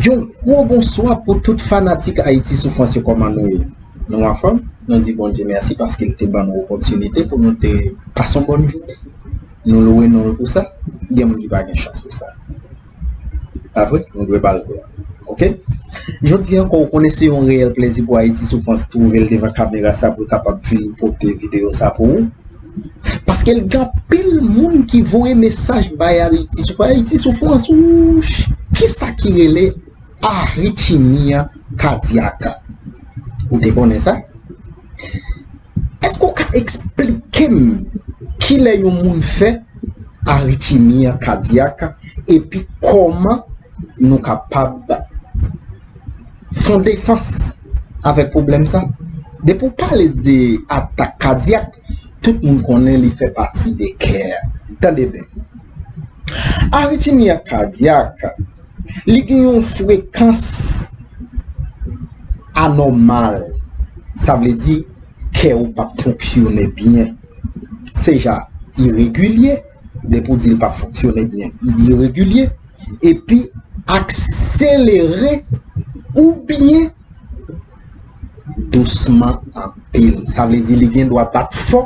Yon gwo bonswa pou tout fanatik Ayiti sou Frans yo kòman nou ye? Nou anfòm? Nou di Bondye mèsi paske l te ban nou opòtinite pou nou te pase yon bòn jounen. Nou louwe non l pou sa. Gen moun ki pa gen chans pou sa. Pa vre? Nou dwe ba l glwa. Ok? Jodi an ankò, ou konnen se yon reyèl plezi pou Ayiti Soufrans twouve l devan kamera sa pou l kapab vin pote videyo sa pou ou. Paske l gen anpil moun ki voye mesaj bay Ayiti Soufrans. Ayiti Soufrans, wouch! Kisa ki rele aritchimiya kadiyaka? Ou te konnen sa? Èske ou ka eksplike m ki lè yon moun fè aritimi kadyak epi kòman nou kapab fon defans avèk pwoblèm sa? Depi ou pale de atak kadyak, tout moun konnen li fè pati de kè. Tande byen. Aritimi kadyak. Li gen yon frekans anòmal. Sa vle di, kè ou pa fonksyone byen. Se ja, iregilye, depi ou di l pa fonksyone byen, iregilye, epi akselere ou byen dousman anpil. Sa vle di li gen dwa bat fò.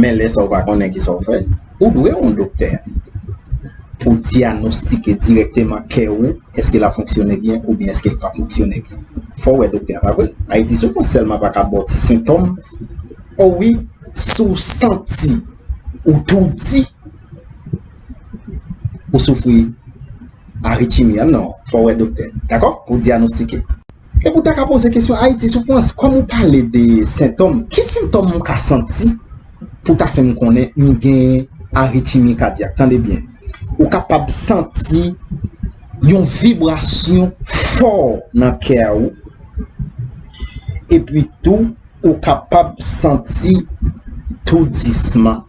Men lè sa ou pa konnen ki sa ou fè, ou dwe wè yon doktè pou dyanostike dirèkteman kè ou, èske l ap fonksyone byen oubyen èske l pa fonksyone byen. Fò ou wè doktè a, pa vre? Ayiti sou moun sèlman pa ka ba w ti sentòm, o wi, si w santi ou toudi, ou soufri aritimi, an non, fò ou wè doktè, dakò, pou dyanostike. Epi w ta ka poze kesyon Ayiti soufrans. Kòm ou pale de sentòm, ki sentòm m ka santi pou ta fè m konnen m gen aritimi kadyak? Tande byen, ou kapab santi yon vibrasyon fò nan kè a ou, epi tou ou kapab santi toudisman.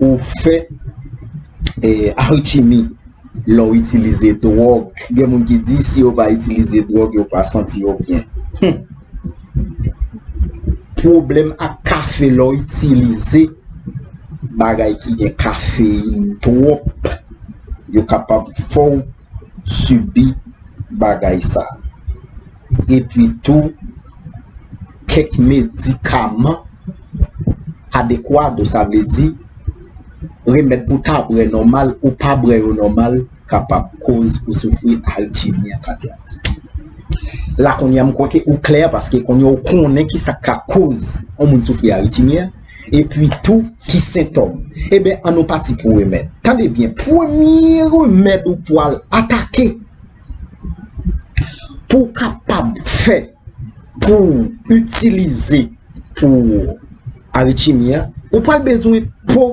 ou fè alchimi lè w itilize dwòg. Gen moun ki di si yo pa itilize dwòg yo pa santi yo byen. Hum! Pwoblèm ak kafe lè w itilize bagay ki gen kafeyin twòp yo kapab fè w. sibi bagay sa. Epi tou, kèk medikaman adekwado, sa vle di, remèd pou ta bwè nòmal ou pa bwè yo nòmal kapab koz ou soufri aritimi kadyak. La kounye a m kwè ke ou klè paske kounye a ou konnen ki sa k ka koz yon moun soufri aritimi a. Epi tou ki sentòm. Eben an nou pati pou remèd. Tande byen, premye remèd ou pwal atake pou kapab fè pou itilize pou aritimi an, ou pwal bezwen po.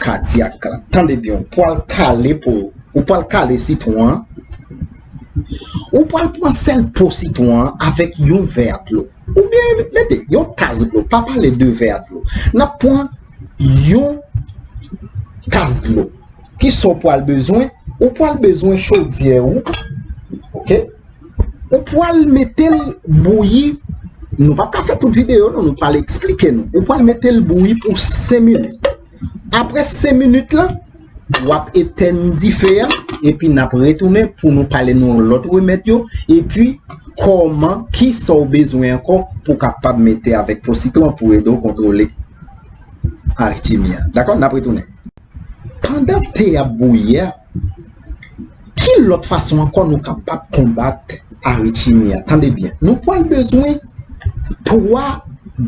kadyak la. Tande byen, ou pral kale po, ou pral kale sitwon an, ou pral pran sèl po sitwon an avèk yon vè a dlo. Ou byen, mète, yon tas dlo, pa pale de vè a dlo. Nap pran yon tas dlo. Ki sa ou pral bezwen? Ou pral bezwen chodyè ou, ok? Ou pwal metel bouyi Nou pap ka fè tout video nou Nou pwal eksplike nou Ou pwal metel bouyi pou 5 minit Apre 5 minit la Wap etèn dife a Epi nap retounen pou nou pale nou Lòt remèt yo Epi kòman ki sa ou bezwen ankò Pou kapab mete avèk po sitron Pou edo kontrole Aritimi a Dakò nap retounen Pandan te ap bouyi a Ki lòt fason ankò nou kapab konbat aritimi a? Tande byen, nou pral bezwen 3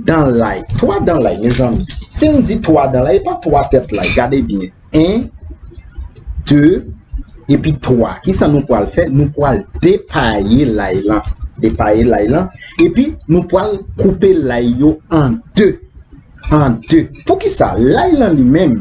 dan lay. 3 dan lay, mezanmi. Si m di 3 dan lay, e pa 3 tèt lay. Gade byen. 1, 2, epi 3. Ki sa nou pral fè? Nou pral depaye lay lan. Depaye lay lan. Epi, nou pral koupe lay yo an 2. An 2. Pou ki sa? Lay lan li menm.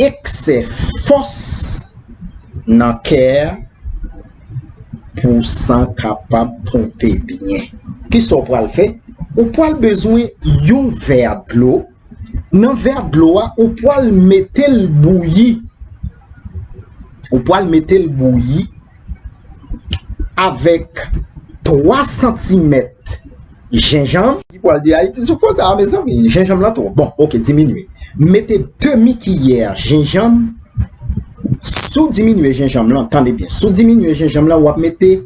Eksè fòs nan kè a pou san kapab ponpe byen. Ki sa w pral fè? Ou pral bezwen yon vè dlo. Nan vè dlo a, ou pral mete l bouyi. Ou pral mete l bouyi. avèk 3 santimèt jenjanm. Li pral di Ayiti sou fò sa a mezanmi, jenjanm lan twòp. Bon, ok, diminye. Mete demi kiyè jenjanm, si w diminye jenjanm lan, tande byen, si w diminye jenjanm lan, w ap mete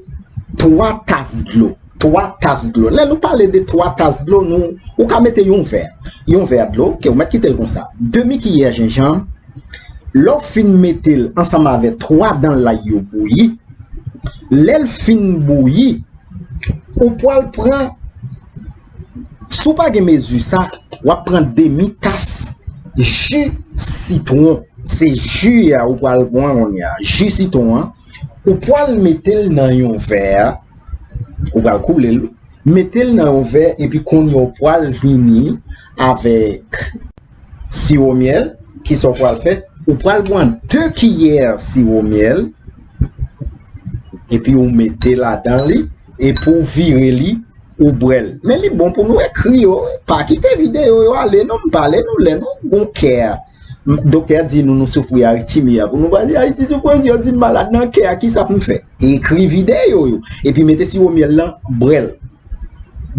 3 tas dlo. 3 tas dlo. Lè nou pale de 3 tas dlo, nou, ou ka mete yon vè, yon vè dlo, ke ou mèt kite l konsa. Demi kiyè jenjanm, lè ou fin mete l ansanm avè 3 dan lay yo bouyi, lè l fin bouyi, ou pwal pran, si w pa gen mezi sa, w ap pran demi tas ji sitwon. Se ji a ou pwal pran kounye a, ji sitwon an, ou pwal mete l nan yon vè a, ou pral koule l, mete l nan yon vè epi kounye ou pral vini avèk siwo myèl, ki sa ou pral fè, ou pral pran 2 kiyè siwo myèl epi ou mete ladan li epi ou vire li ou bwè l. Men li bon pou nou ekri yo, pa kite videyo yo ale non, m pale nou lè nou gon kè a. Doktè a di nou nou soufri aritimi a pou nou pa di Ayiti sou presyon si m malad nan kè a ki sa pou m fè? Ekri videyo yo. Epi mete siwo myèl lan, bwè l.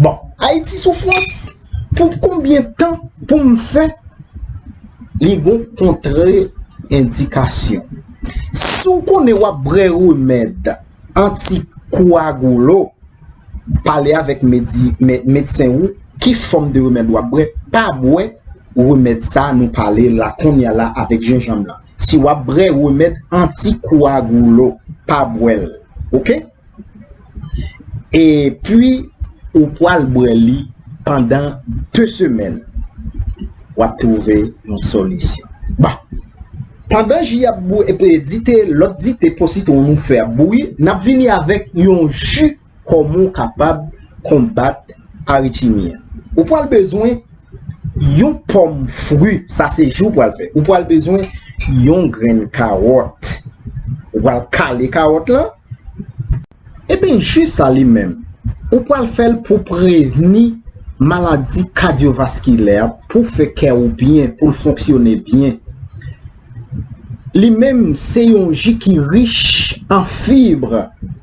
Bon, Ayiti soufrans, pou konbyen tan pou m fè li gon kontre endikasyon. Si w konnen w ap bwè remèd anti-koagulo, pale avèk medsen ou ki fòm de remèd w ap bwè. Pa bwè remèd sa nou pale la kounya la avèk jenjanm lan. Si wap brè remèd anti kouagoulo pa bwèl ok e pwi ou pwal bwè li pandan 2 semèn wap twouve yon solisyon bon pandan ji ap bouyi dite lòt dite po sitwon nou fè ap bouyi nap vini avèk yon ji Koman w kapab konbat aritimi an? Ou pral bezwen yon pòm fri, sa se jou ou pral fè. Ou pral bezwen yon grenn kawòt. Ou pral kale kawòt lan. Eben jus sa li menm, ou pral fè l pou prevni maladi kadyovaskilè, pou fè kè ou byen, pou l fonksyone byen. Li menm se yon ji ki rich an fibr.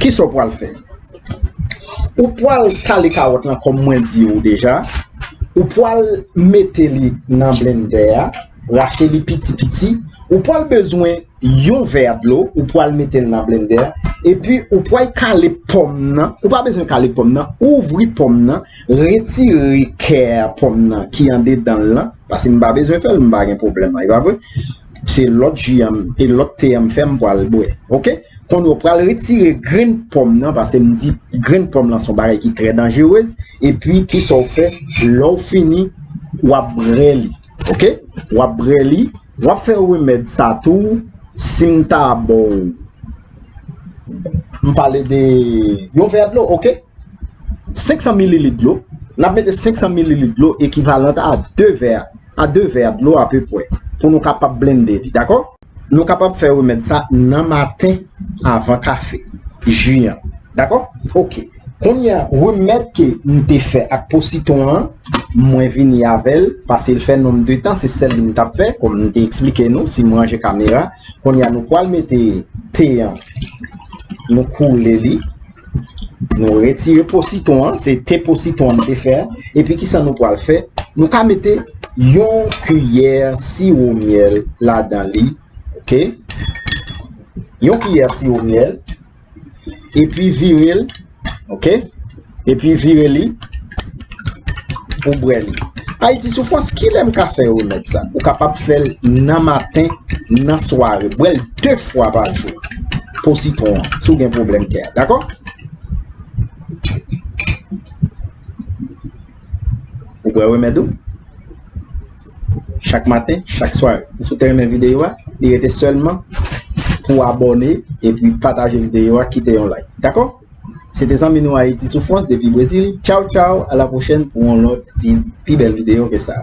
Kisa w pral fè? Ou pral kale kawòt lan kòm mwen di ou deja, ou pral mete li nan blendè a, rache li piti piti, ou pral bezwen yon vè dlo, ou pral mete l nan blendè a, epi ou pral kale pòm nan, ou pa bezwen kale pòm nan, ouvri pòm nan, retire kè pòm nan ki andedan l lan, paske m pa bezwen fè l, m pa gen pwoblèm, e pa vre? Se lòt ji a m e lòt te a m fè m pral bwè. Ok. Kounye a ou pral retire grenn pòm nan pase m di grenn pòm lan se yon bagay ki trè danjerez. Epi ki sa ou fè lè ou fini w ap bre li. Ok. W ap bre li. W ap fè remèd sa tou si m ta ba w m pale de yon vè dlo. Ok. 500 mililit dlo. N ap mete 500 mililit dlo ekivalant a 2 vè. a 2 vè dlo apepwè pou nou kapab blende li dakò. Nou kapab fè remèd sa nan maten avan kafe, ji an dakò ok. Kounye a remèd ke m te fè ak po sitwon an mwen vini avè l pase l fè nonm de tan se sèl li m tap fè kòm m te eksplike nou si m ranje kamera kounye a nou pwal mete te an nou koule li. Nou retire po sitron an, se te po sitron an nou te fè a, epi ki sa nou pral fè, nou ka mete yon kiyè siwo myèl la dan li, ok, yon kiyè siwo myèl, epi vire l, ok, epi vire li, pou bwè li. Ayiti sou fòs, ki lè m ka fè remèd sa? Ou kapab fè l nan maten, nan sware. Bwè l 2 fwa pa jou pou sitwon an, si w gen pwoblèm kè. Dakò? Ou bwè remèd ou? Chak maten, chak sware. Si w te renmen videyo a, li rete sèlman pou abone, epi pataje videyo a, kite yon like. Dakò? Se te zanmi nou Ayiti Soufrans depi Brezil. Tchaw tchaw a la pwochèn pou yon lòt pi bèl videyo ke sa.